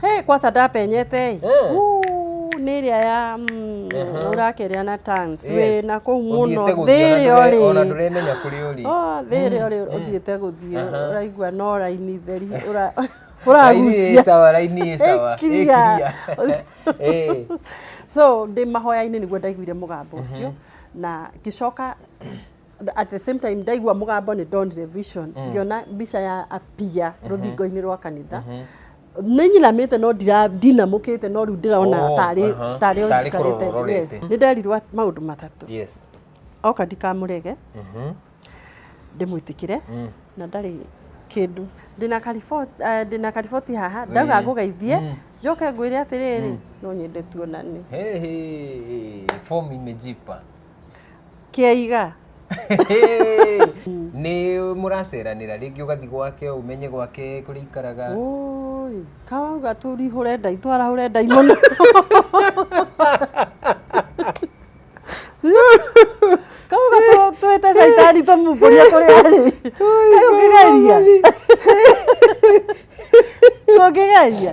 Hey, kwanza ndapenyete ĩ Eh. Uu, nĩ ĩrĩa ya mm, Aha. ũrakeria na tans Yes. wĩ na kũu mũno Ũthiĩte gũthiĩ, thĩrĩ ona ndũre- ona orĩ ndũremenya kũrĩa ũrĩ Oh, thĩrĩ orĩ ũthiĩte gũthiĩ Aha. ũraigua no raini theri ũra- Raini ĩ ũragucia sawa raini ĩ sawa Ĩ clear. Ĩ clear. Eh. so ndĩ mahoya-inĩ nĩguo ndaiguire mũgambo ũcio na ngĩcoka at the same time ndaigua mũgambo nĩ ndonire vision ngĩona mbica ya apia rũthingo-inĩ rwa kanitha nĩ nyiramĩte no ndira- ndinamũkĩte no rĩu ndĩrona Oh, tarĩ aha. tarĩ Tarĩ ũnjikarĩte kũrora ũrorete. nĩ nderirwo at- maũndũ matatũ yes oka ndikamũrege Mhm. ndĩmwĩtĩkĩre Mm. na ndarĩ kĩndũ ndĩna kariboti eh, ndĩna kariboti haha ndauga Mm. ngũgeithie Mm. njoke ngwĩre atĩrĩrĩ no nyende tuonane Hey, hey, form imejipa kĩaiga nĩ mũraceranĩra rĩngĩ ũgathiĩ gwake ũmenye gwake kũrĩa ikaraga Ũũi, kawauga tũrihũre ndai twarahũre ndai mũno kauga tũ- twĩte caitani tũmumbũria kũrĩa arĩ Kaĩ ũngĩgeria tũngĩgeria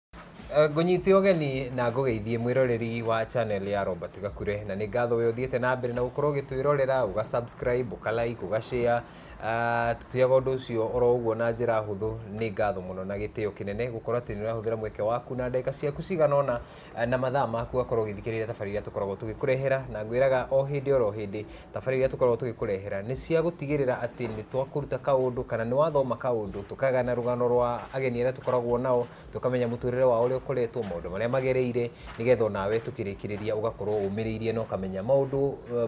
Eh, ngũnyite ũgeni na ngũgeithie mwĩroreri wa channel ya Robert Gakure na nĩ ngatho we ũthiĩte na mbere na gũkorwo ũgĩtwĩrorera ũga subscribe ũka like ũga share Ah, tũtiaga ũndũ ũcio oro ũguo na njĩra hũthũ nĩ ngatho mũno na gĩtĩo kĩnene gũkorwo atĩ nĩ ũrahũthĩra mweke waku na ndagĩka ciaku cigana ũna ah, na mathaa maku ũgakorwo ũgĩthikĩrĩria tabarĩra iria tũkoragwo tũgĩkũrehera na ngwĩraga o hĩndĩ oro hĩndĩ Tabarĩra iria tũkoragwo tũgĩkũrehera nĩ cia gũtigĩrĩra atĩ nĩ twakũruta kaũndũ kana nĩ wathoma kaũndũ, tũkagana rũgano rwa ageni arĩa tũkoragwo nao, tũkamenya mũtũrĩre wao ũrĩa ũkoretwo, maũndũ marĩa magereire, nĩgetha onawe tũkĩrĩkĩrĩria ũgakorwo ũmĩrĩirie na ũkamenya maũndũ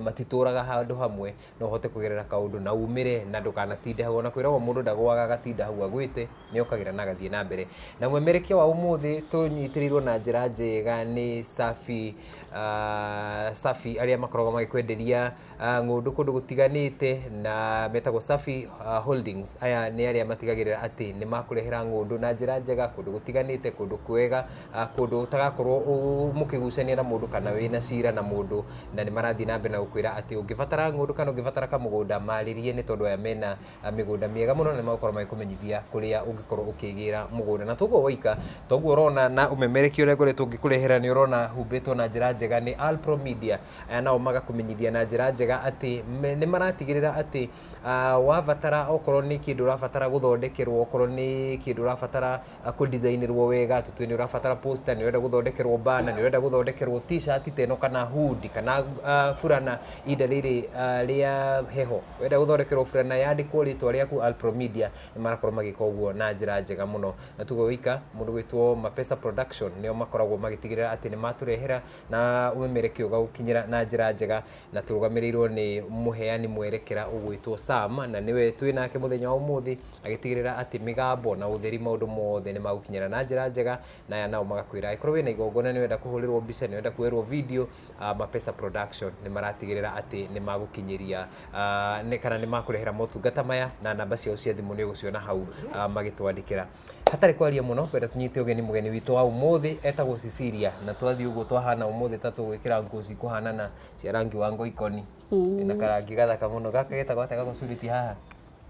matitũraga handũ hamwe, no ũhote kũgerera kaũndũ na umĩre na ndũkanatinde hau. Ona kwĩragwo mũndũ ndagũaga agatinda hau agũĩte, nĩ okagĩra na agathiĩ na mbere. Na mwemerekia wa ũmũthĩ tũnyitĩrĩirwo na njĩra njega nĩ Safi. ah, safi arĩa makoragwo magĩkwenderia ah, ng'ũndũ kũndũ gũtiganĩte na metagwo safi ah, holdings aya nĩ arĩa matigagĩrĩra atĩ nĩ makũrehera ng'ũndũ na njĩra njega kũndũ gũtiganĩte kũndũ kwega ah, kũndũ ũtagakorwo ũ- mũkĩgucania na mũndũ kana wĩna cira na mũndũ na nĩ marathiĩ na mbere na gũkwĩra atĩ ũngĩbatara ng'ũndũ kana ũngĩbatara kamũgũnda marĩrie nĩ tondũ aya mena ah, mĩgũnda mĩega mũno na nĩmagũkorwo magĩkũmenyithia kũrĩa ũngĩkorwo ũkĩgĩra mũgũnda na toguo waika toguo ũrona na ũmemereki ũrĩa ngoretwo ngĩkũrehera nĩ ũrona humbĩtwo na njĩra njega nĩ Alpro Media ah, nao magakũmenyithia na njĩra njega atĩ me- nĩ maratigĩrĩra atĩ ah, wabatara okorwo nĩ kĩndũ ũrabatara gũthondekerwo okorwo nĩ kĩndũ ũrabatara ah, kũdisainĩrwo wega tũtue nĩ ũrabatara poster nĩ ũrenda gũthondekerwo bana nĩ ũrenda gũthondekerwo t-shirt teno kana hood kana ah, burana inda rĩrĩ ah, rĩa heho Wenda gũthondekerwo burana yandĩkwo rĩtwa rĩaku Alpro Media, nĩ marakorwo magĩka ũguo na njĩra njega mũno. Na tuge wĩika, mũndũ ũgwĩtwo Mapesa Production nĩo makoragwo magĩtigĩrĩra atĩ nĩ matũrehera na ũmemerekia ũgagũkinyĩra na njĩra njega, na tũrũgamĩrĩirwo nĩ mũheani mwerekera ũgwĩtwo Sam, na nĩwe twĩ nake mũthenya wa ũmũthĩ, agĩtigĩrĩra atĩ mĩgambo na ũtheri maũndũ mothe nĩ magũkinyĩra na njĩra njega, na aya nao magakwĩra angĩkorwo wĩna igongona nĩ ũrenda kũhũrĩrwo mbica, nĩ ũrenda kuoerwo video, a Mapesa Production nĩ maratigĩrĩra atĩ nĩ magũkinyĩria kana nĩ makũrehera motungata maya na namba ciao cia thimũ nĩ ũgũciona hau magĩtwandĩkĩra. Hatarĩ kwaria mũno ngwenda tũnyite ũgeni mũgeni witũ wa ũmũthĩ etagwo Cecilia na twathiĩ ũguo twahana ũmũthĩ ta tũgwĩkĩra nguo cikũhanana cia rangi wa ngoikoni na karangi gathaka mũno. Gaka getagwo atĩa gagũcurĩtie haha?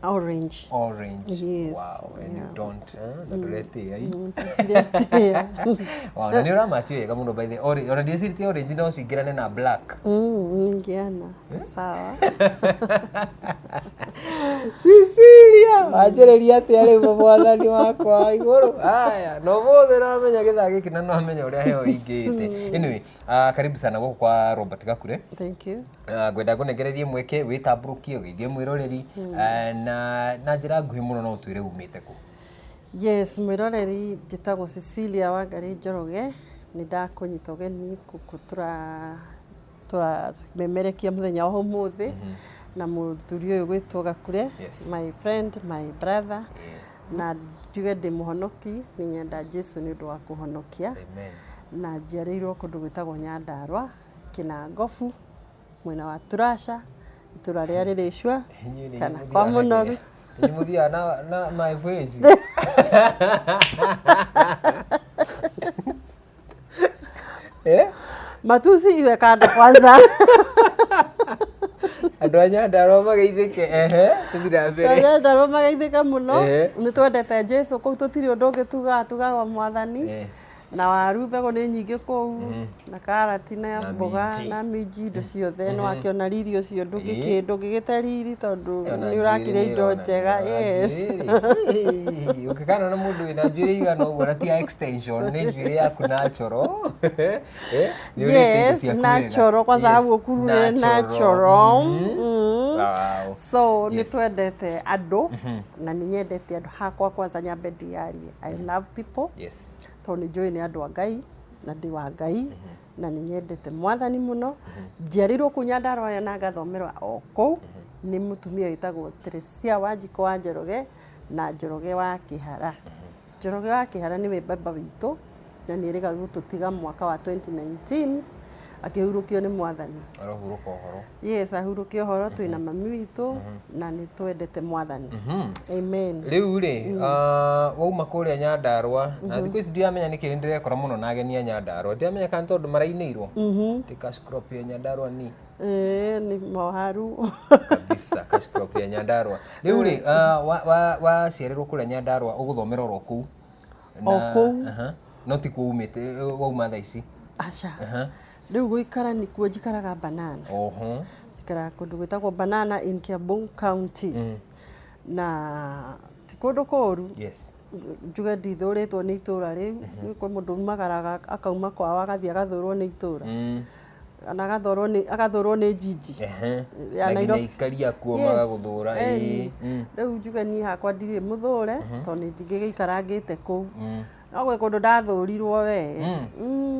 orange orange Yes, wow and you yeah. don't eh, na ndũretĩĩa i Ndĩretĩĩa. wow na nĩ ũramati wega mũno by the orange ona ndĩcirĩtie orange no cingĩrane na black Mm, ningeana sawa Cecilia wanjĩrĩria atĩa rĩu mu mwathani wakwa wa igũrũ aya no mũthĩ no amenya gĩthaa gĩkĩ na no amenya ũrĩa heo ingĩte anyway Ah, karibu sana gũkũ kwa robert gakure Thank you. Ah, ngwenda ngũnengererie mweke wĩtambũrũkie ũgeithie mwĩroreri Ah, na na njĩra nguhĩ mũno no ũtwĩre umĩte kũ Yes, mwĩroreri njĩtagwo Cecilia Wangari Njoroge nĩ ndakũnyita ũgeni gũkũ tura twamemerekia mũthenya wa ũmũthĩ na mũthuri ũyũ gwĩtwo Gakure Yes. my friend my brother na njuge ndĩ mũhonoki nĩ nyenda Jesu nĩ ũndũ wa kũhonokia Amen. na njiarĩirwo kũndũ gwĩtagwo Nyandarwa Kĩnangobu mwena wa Turasha itũra rĩa Rĩrĩcua Inyuĩ nĩ kana mũthiaga kwa na mũnoru kĩrĩa? Nĩ mũthiaga na na my voyage. Eh? matusi iwe kando kwanza andå a nyandarwa mageithä ke ehe tå thiä na mbere Twaria ndarwo magaithĩka mũno Ehe. nĩ twendete jesu kũu tũtirĩ ũndũ ũngĩ tugaga tugaga mwathani Eh. na waru mbegũ nĩ nyingĩ kũu na karati Tina na mboga minji. na minji indo ciothe nĩ wakĩona riri ũcio ndũngĩkĩ- ndũngĩgĩte riri tondũ Ona nĩ ũrakĩrĩa njuĩrĩ indo nĩũrona, njega ona yes njuĩrĩ. ũkĩkana na mũndũ wĩna njuĩrĩ igana ũguo na ti ya extension nĩ njuĩrĩ yaku natural Eh, nĩ ũrĩte indo yes ciaku wega. natural kwanza Yes, hau ũkurure natural Mhm. Mm. Wow. so nĩ Yes. twendete andũ na nĩ nyendete andũ hakwa kwanza nyambe ndiarie i love people yes tondũ nĩ njũĩ nĩ andũ a ngai na ndĩ wa Ngai na nĩ nyendete mwathani mũno. Njiarĩirwo kũu Nyandarũa ĩyo na ngathomerwa o kũu nĩ mũtumia wĩtagwo Teresia wa Njiko wa Njoroge na Njoroge wa Kĩhara. Njoroge wa Kĩhara nĩwe baba witũ na nĩ erĩga gũtũtiga mwaka wa 2019. akĩhurũkio nĩ mwathani Arohurũka ũhoro. yes ahurũke ũhoro twĩ na mami witũ na nĩ twendete mwathani amen Rĩu rĩ, ah, wauma kũrĩa Nyandarũa, na thikũ ici ndiramenya nĩkĩ nĩ ndĩrekora mũno na ageni a Nyandarũa. Ndiramenya kana nĩ tondũ marainĩirwo. Ti cash crop ya Nyandarũa ni. Eh, nĩ moharu kabisa cash crop ya Nyandarũa. Rĩu rĩ, ah, wa- wa- waciarĩrwo kũrĩa Nyandarũa ũgũthomera oro kũu. O Na- kũu? aha. no ti kũu umĩte eh, wauma thaa ici aca Aha. rĩu gũikara nĩkuo njikaraga banana oho njikaraga kũndũ gwĩtagwo banana in kiambu county na ti kũndũ kũũru yes njuge ndithũrĩtwo nĩ itũra rĩu kwĩ mũndũ umagaraga akauma kwao agathiĩ agathũrwo nĩ itũra Mm. kana agathũrwo nĩ agathũrwo nĩ njinji Ehe. Ya na nginya Nairobi. ikaria kuo Yes. magagũthũra Eh, ĩĩ. Mm. rĩu njuge niĩ hakwa ndirĩ mũthũre tondũ nĩ njingĩgĩikarangĩte kũu Mm. no gwĩ kũndũ ndathũrirwo we Mm. Mm.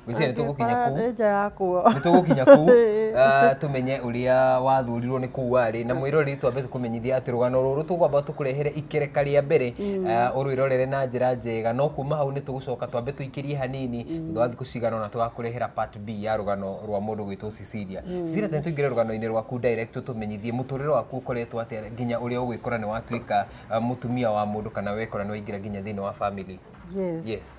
Gwĩciria nĩ tũgũkinya Angĩkora kũu. nĩ nja ya kuo nĩ tũgũkinya kũu Ĩĩ. ah, tũmenye ũrĩa wathũrirwo nĩ kũu warĩ na mwĩroreri twambe tũkũmenyithia atĩ rũgano rũrũ tũkwamba tũkũrehere ikereka rĩa mbere ah, ũrwĩrorere na njĩra njega no kuma hau nĩ tũgũcoka twambe tũikĩrie hanini thutha wa thikå cigana ona tågakå rehera part b ya rũgano rwa må ndå gwä two cecilia cecilia tene tå ingä re rũgano-inä rwaku direct tå menyithie må tå rä re waku å koretwo atä nginya å rä a å gwä kora nä watuä ka må tumia wa må ndå kana wekora nä waingä ra nginya thä inä wa family yes. yes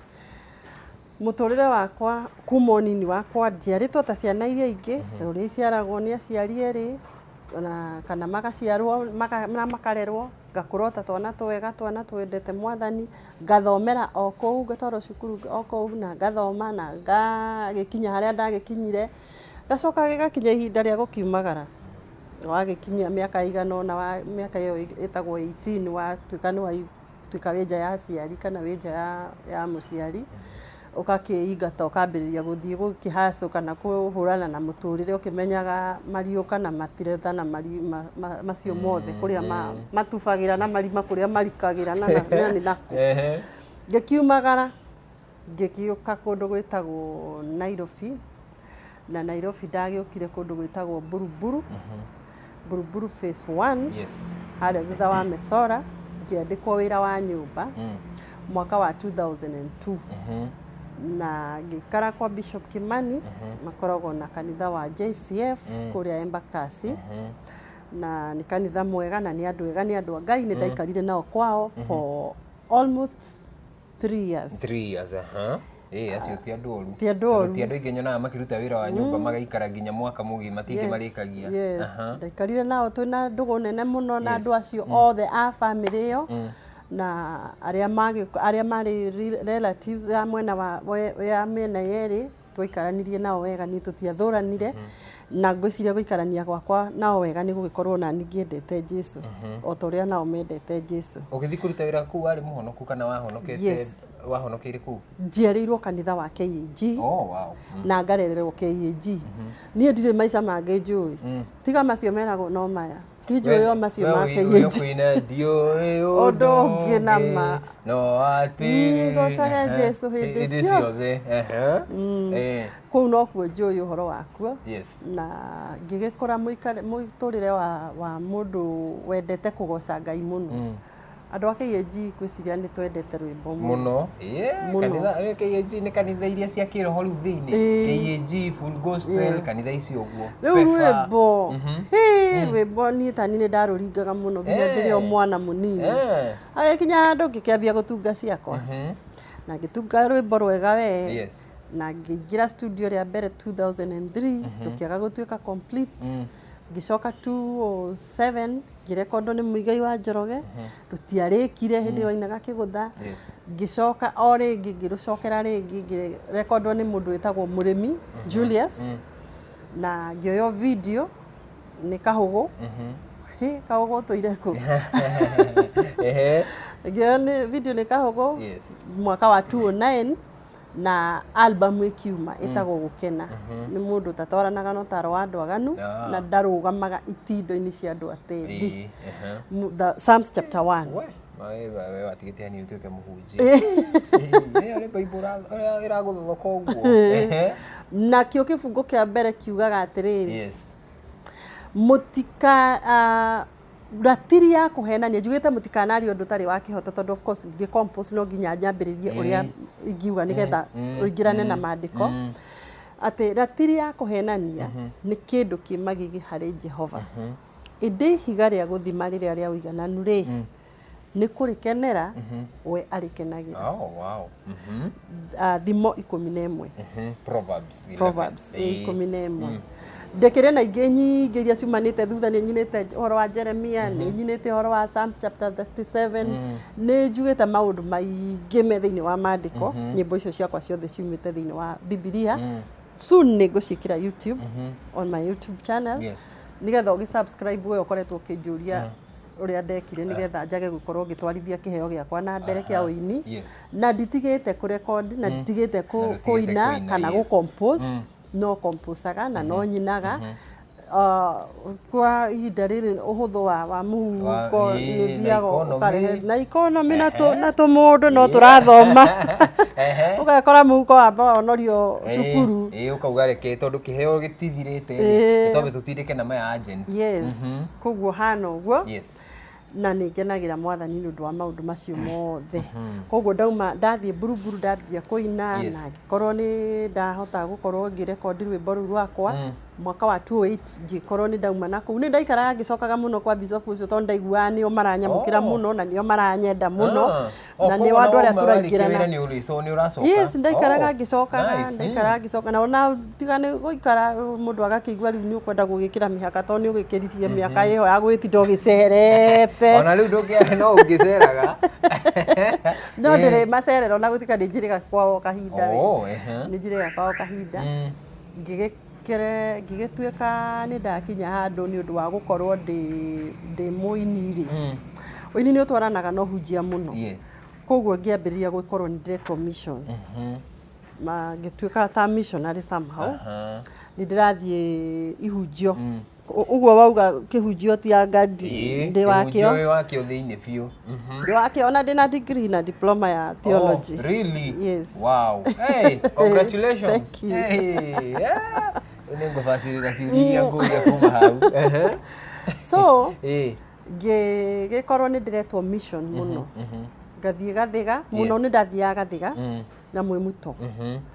Mũtũrĩre wakwa kuma ũnini wakwa njiarĩtwo ta ciana iria ingĩ na ũrĩa iciaragwo nĩ aciari erĩ na kana magaciarwo maka, na makarerwo ngakũra o ta twana twega twana twendete mwathani ngathomera o kũu, ngatwarwo cukuru o kũu na ngathoma na ngagĩkinya harĩa ndagĩkinyire, ngacoka gĩgakinya ihinda rĩa gũkiumagara, wagĩkinyia mĩaka ĩigana ũna, mĩaka ĩyo ĩtagwo eighteen watuĩka nĩ waigana, watuĩka wĩ nja ya aciari kana wĩ nja ya mũciari. ũgakĩingata ũkambĩrĩria gũthiĩ gũkĩhacũ kana kũhũrana na mũtũrĩre ũkĩmenyaga mariũka na matireta na marima ma- macio mothe kũrĩa ma- matubagĩra na marima kũrĩa marikagĩra na na- na nĩ nakũ Ehe. ngĩkiumagara ngĩgĩũka kũndũ gwĩtagwo Nairobi na Nairobi ndagĩũkire kũndũ gwĩtagwo Buruburu, Buruburu phase one, Yes. harĩa thutha wa Mesora, ngĩandĩkwo wĩra wa nyũmba Mm. mwaka wa 2002 Mhm. na ngĩikara kwa Bishop Kimani makoragwo na kanitha wa JCF Mm. kũrĩa Embakasi Mhm. na nĩ kanitha mwega na nĩ andũ ega nĩ andũ a Ngai nĩ ndaikarire nao kwao for almost three years Three years, aha. Eh, acio ti andũ oru. Ti andũ oru. Tondũ ti andũ aingĩ nyonaga makĩruta wĩra wa nyũmba magaikara nginya mwaka mũgima ti aingĩ marĩkagia. yes. Aha. ndaikarire nao twĩ na ndũgũ nene mũno na andũ acio othe a bamĩrĩ ĩyo na arĩa magĩ- arĩa marĩ re- relatives ya mwena wa we- ya mĩena yerĩ Twaikaranirie nao wega niĩ tũtiathũranire na ngwĩciria gũikarania gwakwa nao wega nĩ gũgĩkorwo ona niĩ ngĩendete Jesu o ta ũrĩa nao mendete Jesu. Ũgĩthiĩ kũruta wĩra kũu warĩ mũhonoku kana wahonokete Yes. wahonokeire kũu? Njiarĩirwo kanitha wa KAG Oh, wow. Mm. na ngarererwo KAG. Niĩ ndirĩ maica mangĩ njũĩ tiga macio meragwo no maya. Tijũĩ o macio We make ũyũ yĩnji. kwĩna ndiũĩ Ũndũ ũngĩ na ma. no atĩrĩ Ngocage Jesu hĩndĩ hĩndĩ ciothe. ciothe Ehe. Eh, kũu nokuo njũĩ ũhoro wakuo yes na ngĩgĩkũra mũikare- mũtũrĩre wa, wa mũndũ wendete kũgoca ngai mũno Mm. Andũ a KAG ngwĩciria nĩ twendete rwĩmbo mũno yeah, Mũno. kanitha eh, KAG nĩ kanitha iria cia kĩroho rĩu thĩinĩ Ĩĩ. KAG full gospel Yes. kanitha ici ũguo rĩu Pefa. rwĩmbo Mhm. hĩ, rwĩmbo niĩ tani nĩ ndarũringaga mũno nginya Eh. ndĩrĩ o mwana mũnini Eh, agĩkinya handũ ngĩkĩambia gũtunga ciakwa mhm. na ngĩtunga rwĩmbo rwega we yes na ngĩingĩra studio rĩa mbere 2003 rũkĩaga gũtuĩka complete Ngĩcoka 2007 ngĩrekondwo nĩ Muigai wa Njoroge, rũtiarĩkire hĩndĩ ĩyo ainaga Kĩgũtha. Yes. Ngĩcoka o rĩngĩ ngĩrũcokera rĩngĩ ngĩrekondwo nĩ mũndũ wĩtagwo Mũrĩmi Julius na ngĩoywo video nĩ Kahũgũ. Hĩ, Kahũgũ ũtũire kũ? Ehe. Ngĩoywo nĩ video nĩ Kahũgũ Yes. mwaka wa 2009 na album ĩkiuma ĩtagwo gũkena nĩ mũndũ ũtatwaranaga na ũtaro wa andũ aganu Ah. na ndarũgamaga itindo-inĩ cia andũ atendi Ĩĩ, aha. Mu- the Psalms chapter 1 We, ma we- we- we watigĩte hani ũtuĩke mũhunjia Ĩĩ, ũrĩ Bible ũra- ũra- ĩragũthogoka ũguo Ehe. nakĩo kĩbungo kĩa mbere kiugaga atĩrĩrĩ yes mũtika ah, ratiri ya kũhenania njugĩte mũtikanarie ũndũ ũtarĩ wa kĩhoto tondũ of course ndĩ compose no nginya njambĩrĩrie Eh. ũrĩa ingiuga nĩgetha Eh. ũingĩrane na Mm. maandĩko Mm. atĩ ratiri ya kũhenania nĩ kĩndũ kĩ magigi harĩ jehova ĩndĩ ihiga rĩa gũthima rĩrĩa rĩa ũigananu rĩ nĩ kũrĩkenera we arĩkenagĩra Oh, wow. Mhm. Ah, thimo ikũmi na ĩmwe Mhm. Proverbs 11. Proverbs Eh, ĩ ikũmi na ĩmwe ndĩkĩrĩ na ingĩ nyingĩ iria ciumanĩte thutha nĩ nyinĩte ũhoro wa jeremia nĩ nyinĩte ũhoro wa psalms chapter 37 nĩ njugĩte maũndũ maingĩ me thĩinĩ wa maandĩko nyĩmbo icio ciakwa ciothe ciumĩte thĩinĩ wa bibilia soon nĩ ngũciĩkĩra youtube on my youtube channel Yes. nĩgetha ũgĩ subscribe we ũkoretwo ũkĩnjũria ũrĩa ndekire nĩgetha njage gũkorwo ngĩtwarithia kĩheo gĩakwa na mbere kĩa ũini Yes. na nditigĩte kũ record na nditigĩte Na kũ- ndũtigĩte kũina kũina, kana yes. gũ compose Mm. no composaga na no nyinaga Ah, kwa ihinda rĩrĩ ũhũthũ wa wa mũhuko Wa- ĩĩ, na nĩũthiaga economy. ũkarehe na ikonomi na tũ- na tũmũndũ no tũrathoma Ehe. ũgakora mũhuko wamba wonorio Ĩĩ, cukuru ĩĩ, ũkauga reke tondũ kĩheo gĩtithirĩte Ĩĩ. tondũ tũtindĩke na maya agent yes Mhm. Koguo hana ũguo. Yes. Na nĩ ngenagĩra mwathani nĩ ũndũ wa maũndũ macio mothe. Mhm. Koguo ndauma ndathiĩ mburuburu ndambia kũina yes. na ngĩkorwo nĩ ndahota gũkorwo ngĩrekondi rwĩmbo rũu rwakwa mm. mwaka wa 28 ngĩkorwo nĩ ndauma na kũu nĩ ndaikaraga ngĩcokaga mũno kwa bishop ũcio tondũ ndaiguaga nĩo maranyamũkĩra oh. mũno na nĩo maranyenda mũno ah. Oh, na nĩ koguo wa andũ arĩa ona warĩkia wĩra tũraingĩrana nĩ ũrĩco- nĩ ũracoka? yes ndaikaraga Oh, ngĩcokaga nice. ndaikaraga ngĩcoka na ona tiga nĩ gũikara mũndũ agakĩigua rĩu nĩ ũkwenda gũgĩkĩra mĩhaka tondũ nĩ ũgĩkĩririe mĩaka ĩyo ya gwĩtinda ũgĩcerete ona rĩu ndũngĩahe no ũngĩceraga no Eh. ndĩrĩ macerero na gũtuĩka nĩ njĩrĩga kwao kahinda we. Oh, ehe. nĩ njĩrĩga kwao kahinda Mm. ngĩgĩ Ngĩgĩtuĩka nĩ ndakinya handũ nĩ ũndũ wa gũkorwo ndĩ mũini rĩ, ũini nĩ ũtwaranaga na ũhunjia mũno. Koguo ngĩambĩrĩria gũkorwo nĩ ndĩretwo missions ngĩtuĩka ta missionary somehow nĩ ndĩrathiĩ ihunjio. Ũguo wauga kĩhunjio ti anga ndĩ wakĩo. Ũyũ wakĩo thĩinĩ biũ. Mhm. Ndĩ wakĩo ona ndĩ na degree na diploma ya oh, theology. Oh, really? Yes. Wow. Hey, congratulations. Thank you. Hey, yeah. Nĩ ngũbacĩrĩra ciũria iria ngũria kuma hau. So, hey. ngĩgĩkorwo nĩ ndĩretwo mission mhm, mũno. Mhm. Ngathiĩ gathiga, mũno nĩ ndathiaga gathiga mm. na mwĩmuto.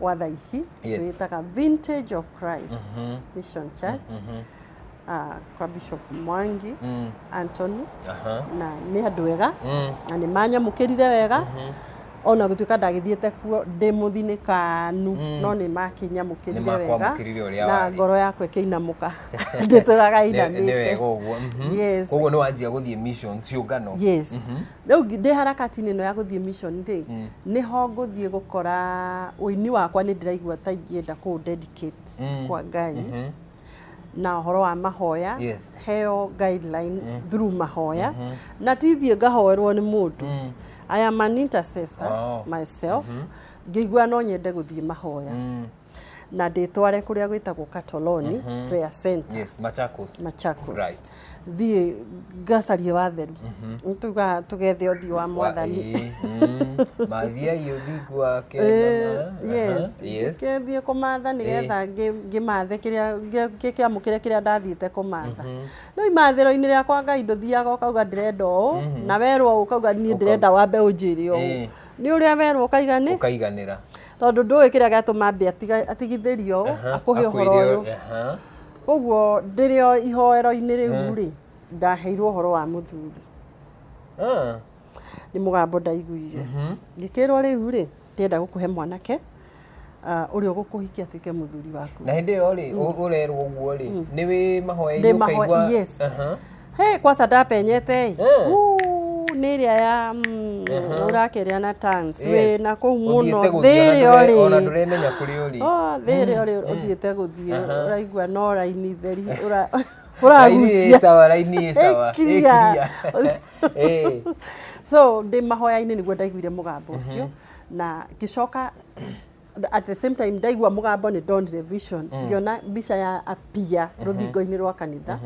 wa thaa ici Yes. wĩtaga vintage of christ Mhm. mission church Mhm. ah, kwa bishop mwangi Mm. antony Aha. na nĩ andũ ega Mm. na nĩ manyamũkĩrire wega Mhm. ona gũtuĩka ndagĩthiĩte kuo ndĩ mũthinĩkanu Mm. no nĩ makinyamũkĩrire wega Nĩmakwamũkĩrire ũrĩa na warĩ. ngoro yakwa ĩkĩinamũka ndĩtũraga Nĩ- nĩ wega inamĩte ũguo mhm. Yes. koguo nĩ wanjia gũthiĩ mission ciũngano yes Mhm. Rĩu ndĩ harakati-inĩ ĩno ya gũthiĩ mission rĩ, nĩho ngũthiĩ gũkora ũini wakwa nĩ ndĩraigua ta ingĩenda kũũ dedicate kwa Ngai na ũhoro wa mahoya, heo guideline through mahoya. Na ti thiĩ ngahoerwo nĩ mũndũ. I am an intercessor myself, ngĩigua no nyende gũthiĩ mahoya. na ndĩtware kũrĩa gwĩtagwo Katoloni Prayer Center yes machakos Machakos Right. thiĩ ngacarie watheru tuga tũgethe ũthiũ wa mwathani Ĩĩ, mm, mathiai ũthingu wake Eh, mama. yes. Aha, yes ngĩthiĩ kũmatha nĩgetha ngĩ- ngĩmathe kĩrĩa ngĩ- ngĩkĩamũkĩre kĩrĩa ndathiĩte kũmatha rĩu imathĩro-inĩ rĩakwa ngai ndũthiaga ũkauga ndĩrenda ũũ na werwo ũkauga niĩ ndĩrenda wambe ũnjĩre ũũ Eh. nĩ ũrĩa werwo ũkaiga nĩ ũkaiganĩra tondũ ndũĩ kĩrĩa gĩatũma ambe atiga- atigithĩrio Aha, akũhe ũhoro akwĩre- ũyũ aha. ũguo ndĩrĩ o ihoero-inĩ rĩu rĩ ndaheirwo ũhoro wa mũthuri Ah, nĩ mũgambo ndaiguire mhm. ngĩkĩrwo rĩu rĩ ndĩrenda gũkũhe mwanake ah, ũrĩa ũgũkũhikia atuĩke mũthuri waku na hĩndĩ ĩyo rĩ ũ- ũrerwo ũguo rĩ nĩ wĩ mahoya-inĩ Ndĩ mahoya- ũkaigua yes. Aha. Hey, kwanza ndapenyete ĩ Eh. Uu, nĩ ĩrĩa ya mm, Aha. ũrakĩrĩa na tangs wĩ na kũu mũno thĩ ĩrĩa ona ũrĩ ndũremenya kũrĩa ũrĩ Oh, thĩ ĩrĩa ũrĩ ũthiĩte gũthiĩ Aha. ũraigua no raini theri ũra- Raini ĩ ũragucia sawa raini ĩ sawa Ĩ clear. clear. Eh. so ndĩ mahoya-inĩ nĩguo ndaiguire mũgambo ũcio na ngĩcoka at the same time ndaigua mũgambo nĩ ndonire vision ngĩona mbica ya apia rũthingo-inĩ rwa kanitha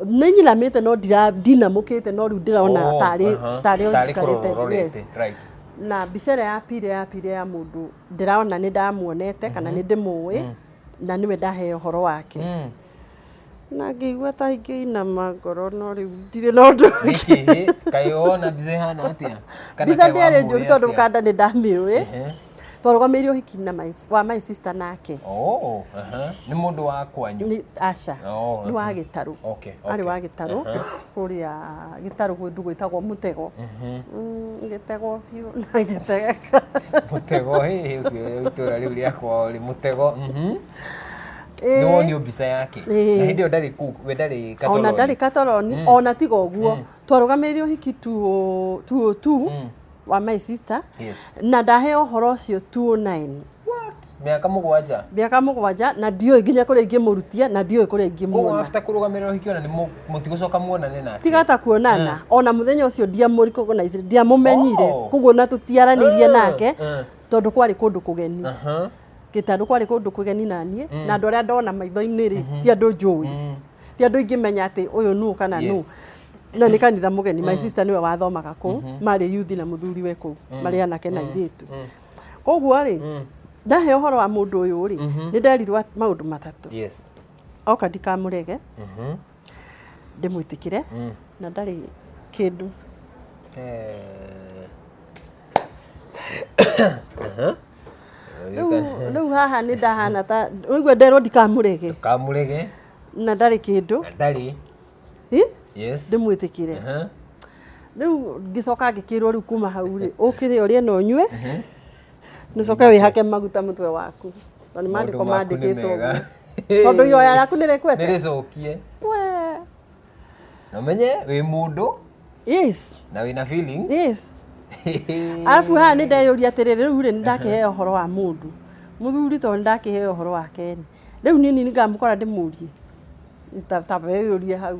nĩ nyiramĩte no ndira- ndinamũkĩte no rĩu ndĩrona Oh, tarĩ aha. tarĩ o Tarĩ njikarĩte yes kũrororete, right. na mbica ĩrĩa ya pire ya pire ya mũndũ ndĩrona nĩ ndamuonete kana nĩ ndĩmũĩ na nĩwe ndahe ũhoro wake Mm. na ngĩigua ta ingĩinama ngoro no rĩu ndirĩ na ũndũ nĩkĩ kaĩ wona mbica ĩhana atĩa Kana mbica kaĩ ndĩarĩ wamũĩ njũru tondũ atĩa? kanda nĩ ndamĩũĩ Ehe. twarũgamĩirio ũhiki na my- wa my sister nake Oh, aha. nĩ mũndũ wa kwanyu Nĩ- aca Oh, nĩ wa gĩtarũ Okay, arĩ okay. wa gĩtarũ Aha. kũrĩa gĩtarũ kũndũ gwĩtagwo mũtego Mhm. Mm, ngĩtegwo biũ na ngĩtegeka mũtego hĩ, hĩ, ũcio itũra rĩu rĩa kwao rĩ mũtego mhm. nĩ wonio mbica yake Ĩĩ. na hĩndĩ ĩyo ndarĩ kuu we ndarĩ ona ndarĩ katoroni Mm. ona tiga ũguo Mm. twarũgamĩrĩire ũhiki 202 Mm. wa my sister Yes. na ndahe ũhoro ũcio 209 mĩaka mũgwanja mĩaka mũgwanja na ndiũĩ nginya kũrĩa ingĩmũrutia na ndiũĩ kũrĩa koguo ingĩmuona after kũrũgamĩrĩra ũhiki ona nĩ mũtigũcoka muonane nake tiga ta kuonana ona mũthenya ũcio ndiamũrikogonaicire ndiamũmenyire Oh. koguo na tũtiaranĩirie Eh, nake eh. tondũ kwarĩ kũndũ kũgeni Aha. Gĩtandũ kwarĩ kũndũ kũgeni na niĩ mm. na andũ arĩa ndona maitho-inĩ rĩ mm -hmm. ti andũ njũĩ mm. ti andũ ingĩmenya atĩ ũyũ nũ kana nũ yes. na nĩ kanitha mũgeni mm. my sister nĩwe wathomaga kũu mm -hmm. marĩ yuthi na mũthuri we kũu mm. marĩ anake na mm. irĩtu mm. koguo rĩ mm. ndahe ũhoro wa mũndũ ũyũ rĩ mm -hmm. nĩ nderirwo maũndũ matatũ yes. oka ndikamũrege mm -hmm ndĩmwĩtĩkĩre Mm. na ndarĩ kĩndũ Eh. Aha. Rĩu- rĩu haha nĩ ndahana ta ũigua nderwo ndikamũrege kamurege na ndarĩ kĩndũ na ndarĩ Hi? yes ndĩmwĩtĩkĩre Aha. rĩu ngĩcoka ngĩkĩrwo rĩu kuma hau rĩ ũkĩrĩa ũrĩe na ũnyue Nĩcoke wĩhake maguta mũtwe waku. Tondũ nĩ maandĩko Maũndũ maku nĩ maandĩkĩtwo mega. ũguo. Tondũ ihoya rĩaku nĩ rĩkwete. nĩrĩcokie We. na ũmenye wĩ mũndũ Yes. na wĩna feeling Yes. Alafu haha nĩ ndeyũria atĩrĩrĩ rĩu rĩ nĩ ndakĩheo ũhoro wa mũndũ. Mũthuri tondũ nĩ ndakĩheo ũhoro wake rĩ. Rĩu niĩ nini ngamũkora ndĩmũrie. Ta ta weyũrie hau.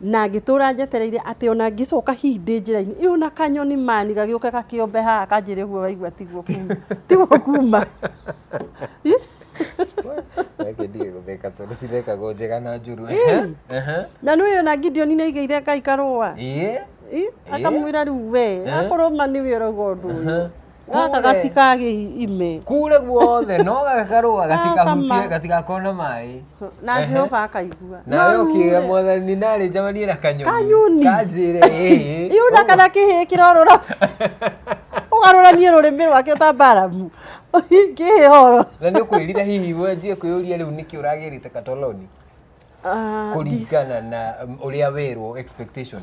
Na ngĩtũra njetereire atĩ ona ngĩcoka hihi ndĩ njĩra-inĩ ĩyo na kanyoni mani gagĩũke gakĩombe haha kanjĩre ũguo waigua tiguo kuma tiguo kuma Ih, Reke ndige gũtheka tondũ cithekagwo njega na njũru. Ih. Ehe. na nĩ ona Gideoni nĩ aigĩire Ngai karũa Ĩĩ. Ih, akamwĩra rĩu we akorwo ma nĩwe ũrauga ũndũ ũyũ gaka Kure. gatikagä ime kure guothe no gakarũa gatikahutie Gakama. gatigakorwo na maĩ na Ehe. jehova akaigua nawe No ũkĩra rure. mwathani narĩ njamanie na kanyoni Kanyoni. kanjĩre ĩĩ iu na kana kä hä kä rorora å garå rå rä mä rwake ta mbaramu kä hä horo na nĩ ũkwĩrire hihi wenjie kwĩyũria rĩu nĩkĩ ũragĩrĩte katoloni kũringana na um, ũrĩa werwo expectation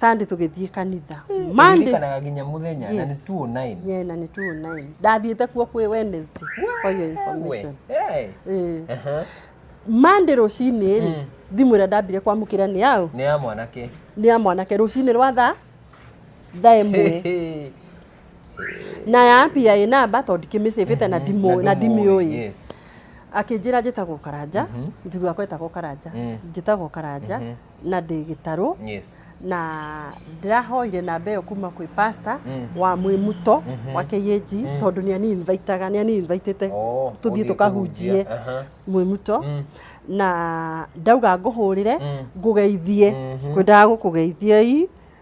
Sunday tũgĩthiĩ kanitha Monday Ndirikanaga nginya mũthenya na Yes. nĩ 209. yeah, na nĩ 209 ndathiĩte kuo kwĩ Wednesday for your information We, eh. Eh. Aha. Monday rũcinĩ rĩ thimũ ĩrĩa ndambire kwamũkĩra nĩ yaũ Nĩ ya mwanake. nĩ ya mwanake rũcinĩ rwa tha tha ĩmwe na ya pia ĩ namba tondũ ndikĩmĩcĩbĩte na ndimũ- na ndimĩũĩ Yes. akĩnjĩra njĩtagwo karanja mũthuri wakwa etagwo karanja Mm. njĩtagwo karanja na ndĩ gĩtarũ Yes. na ndĩrahoire namba ĩyo kuma kwĩ pasta Mm. wa mwĩmuto Mhm. wa KAG Mm. tondũ nĩ ani invitaga nĩ ani invitĩte Oh, tũthiĩ gũthiĩ tũkahunjie kũhunjia. Aha. mwĩmuto Mm. na ndauga ngũhũrĩre Mm. ngũgeithie Mhm. kwendaga gũkũgeithiei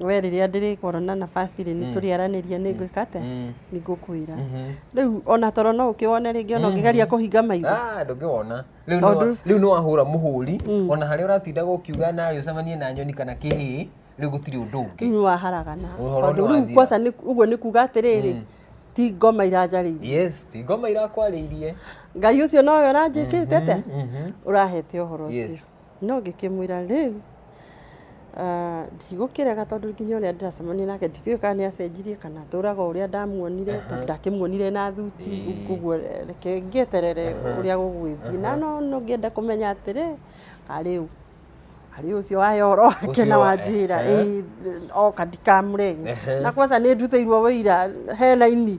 we rĩrĩa ndĩrĩkorwo na nabaci rĩ nĩ tũrĩaranĩria nĩ ngwĩka atĩa Mm. nĩ ngũkwĩra Mhm. rĩu ona toro no ũkĩwone rĩngĩ ona ũngĩgeria kũhinga maitho Ah, ndũngĩwona Rĩu Tondũ- nĩ- rĩu nĩ wahũra mũhũri ona harĩa ũratindaga ũkiuga narĩ ũcemanie na nyoni kana kĩhĩĩ rĩu gũtirĩ ũndũ ũngĩ rĩu nĩ waharagana Ũhoro tondũ rĩu nĩwathira. kwaca nĩ- ũguo nĩ kuga atĩrĩrĩ ti ngoma iranjarĩirie yes ti ngoma irakwarĩirie ngai ũcio nowe ũranjĩkĩte atĩa Mhm. ũrahete ũhoro ũcio yes No ngĩkĩmwĩra, 'Rĩu ndigũkĩrega tondũ nginya ũrĩa ndĩracemania nake ndikĩũĩ kana nĩ acenjirie kana atũraga ũrĩa ndamuonire tondũ ndakĩmuonire na thuti. Ũguo reke ngĩeterere ũrĩa gũgũgĩthiĩ. Na no ngĩenda kũmenya atĩrĩ, a rĩu harĩ ũcio wa ũhoro wake na wanjĩra oka ndikamũrege. Na kwanza nĩ ndutĩirwo ũira he raini.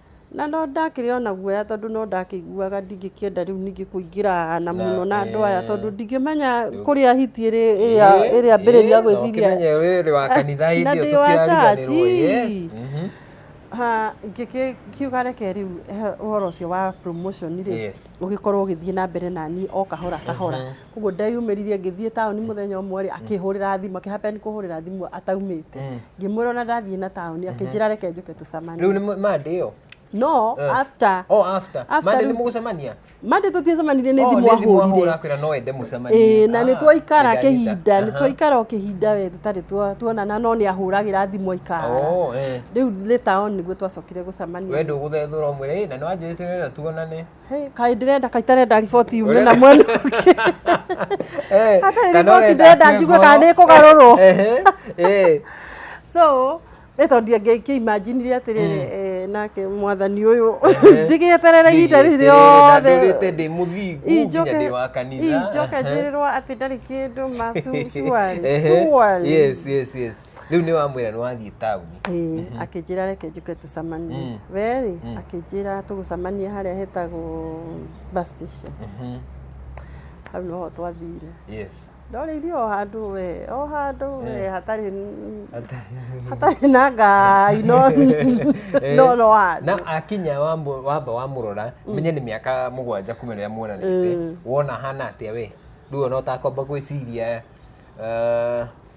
Na no ndakĩrĩ ona guoya tondũ no ndakĩiguaga ndingĩkĩenda rĩu ningĩ kũingĩra na mũno na andũ aya tondũ ndingĩmenya kũrĩa hiti ĩrĩ ĩrĩa ĩrĩa mbĩrĩria gwĩciria Ũkĩmenye wĩrĩ wa kanitha na hĩndĩ ndĩ ĩyo wa tũkĩariganĩrwo. Yes. church. Mhm. Ha, ngĩkiuga reke rĩu he ũhoro ũcio wa promotion rĩ Yes. ũgĩkorwo ũgĩthiĩ na mbere naniĩ o kahora kahora koguo ndeyumĩririe ngĩthiĩ taũni mũthenya ũmwe rĩ akĩhũrĩra thimũ akĩhapen kũhũrĩra thimũ ataumĩte Mm. ngĩmwĩra ona ndathiĩ na taũni akĩnjĩra reke njoke rĩu tũcemanie nĩ mande ĩyo no Eh. after oh after After mande rĩu- nĩ mũgũcemania mande tũtiacemanirie nĩ Oh, thimũ ahũrire ahũra akwĩra no ende mũcemanie Ĩĩ, na Ah, nĩ twaikara nĩndaanyita. kĩhinda nĩ Aha. twaikara o kĩhinda we tũtarĩ twa- tuonana no nĩ ahũragĩra thimũ aikara Oh, eh. rĩu nĩ taoni nĩguo twacokire gũcemania we ndũgũthethũra ũmwĩre "Ĩ, na nĩ wanjĩrĩte wĩra tuonane Hey, kaĩ ndĩrenda kaĩ itarenda riboti yume na mwena ũngĩ Eh, Hatarĩ kana riboti ũrenda ndĩrenda akue njigue kana ngoro. nĩ ĩkũgarũrwo. Ehe, eh. so nĩ tondũ ngĩkĩimanjinire atĩrĩrĩ eh, nake mwathani ũyũ ndigĩeterere ihinda rĩu rĩothe ndũrĩte ndĩ mũthingu nginya injoke ndĩ wa kanitha injoke njĩrĩrwo atĩ ndarĩ kĩndũ ma Ehe, surely yes, yes, yes. rĩu nĩ wamwĩra nĩ wathiĩ taũni Ĩĩ, akĩnjĩra reke njũke tũcemanie Mm. werĩ Mm. akĩnjĩra tũgũcemanie harĩa hetagwo bus station Mhm. hau noho twathire yes ndorĩirie o handũ we o handũ we Eh. hatarĩ n- hatarĩ na ngai no Eh, no no handũ na akinya wambo- wamba wamũrora menye nĩ mĩaka mũgwanja kuma rĩrĩa muonanĩte Mm. wona hana atĩa we rĩu ona ũtakwamba gwĩciria eh,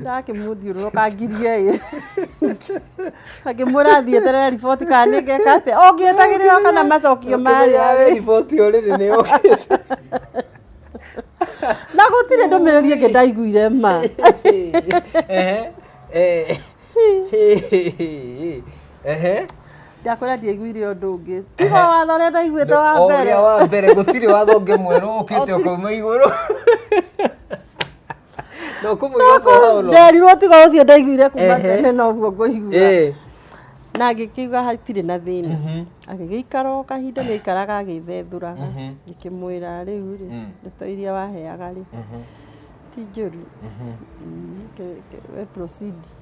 ndakĩmũthiũrũrũka ngirie ĩ akĩmwĩra athiĩ eterere riboti kana nĩ ngeka atĩa ũngĩetagĩrĩra kana macokio marĩa Kũmenya riboti ũrĩrĩ nĩ yũkĩte na gũtirĩ ndũmĩrĩri ĩngĩ ndaiguire ma Ehe, eh, ehe. ndakwĩra ndiaiguire ũndũ ũngĩ tiga watho ũrĩa ndaiguĩte wa O mbere ũrĩa wa mbere gũtirĩ watho ũngĩ mwerũ ũkĩte Gũtirĩ. ũkauma igũrũ no kumuiga kwa holo nderirwo tiga ucio ndaiguire kuma Ehe. tene noguo ngũigua eh na ngĩkiuga hatirĩ na thĩna Mhm. agĩgĩikara o kahinda gĩaikaraga agĩthethũraga Mhm. ngĩkĩmwĩra rĩu rĩ Mm. ndeto iria waheaga rĩ Mhm. ti njũru Mhm. Mm, ke- ke- we proceed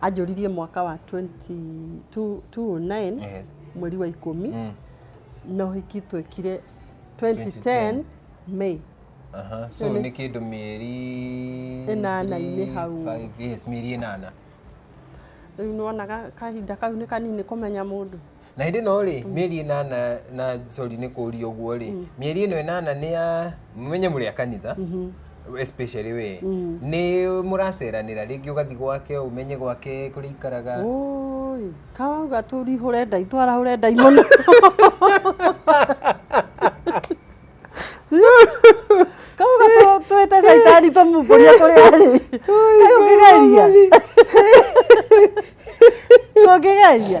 Anjũririe mwaka wa 2009 Yes. mweri wa ikũmi Mm. na ũhiki twekire 2010 May. Aha. So Nĩ- nĩ kĩndũ mĩeri Ĩnana-inĩ three, hau. five, yes, mĩeri ĩnana. Rĩu nĩwonaga kahinda kau nĩ kanini kũmenya mũndũ. na hindi no ri mieri inana na sorry ni kuria uguo ri mieri ino inana ni ya menye muri a kanitha especially we ni muraceranira ringi ugathi gwake umenye gwake kuri ikaraga Oi, kawauga tũrihũre ndai twarahũre ndai mũno kauga tũ- twĩte caitani tũmumbũrie kũrĩa arĩ Kaĩ ũngĩgeria ũngĩgeria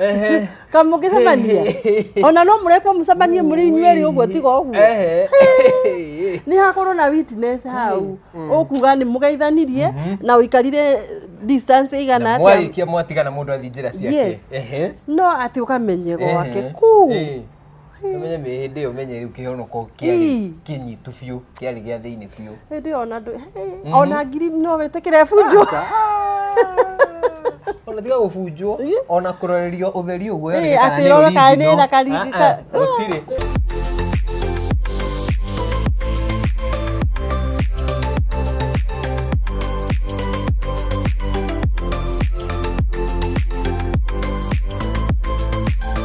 Ehe. kamũgĩcemania ona no mũrekwo mũcemanie mũrĩ inyuerĩ ũguo tiga ũguo Ehe. nĩ hakorwo na witness hau ũkuga nĩ mũgeithanirie na ũikarire distance Na igana atĩa mwarĩkia mwatigana mũndũ athiĩ njĩra ciake Yes. Ehe. no atĩ ũkamenye gwake Ehe. kuu Eh. Ũmenye mĩ hĩndĩ ĩyo menye rĩu kĩhonoko kĩarĩ Ii. kĩnyitu biũ, kĩarĩ gĩa thĩinĩ biũ. Hĩndĩ ĩyo ona ndũ ona ngiri no wĩtĩkĩre bunjo. Ona tiga gũbunjwo, Ii. ona kũrorerio ũtheri ũguo Ii, yoneke kana atĩ nĩ ĩrore kana nĩ original. na karingi Ah, ah, ka- gũtirĩ.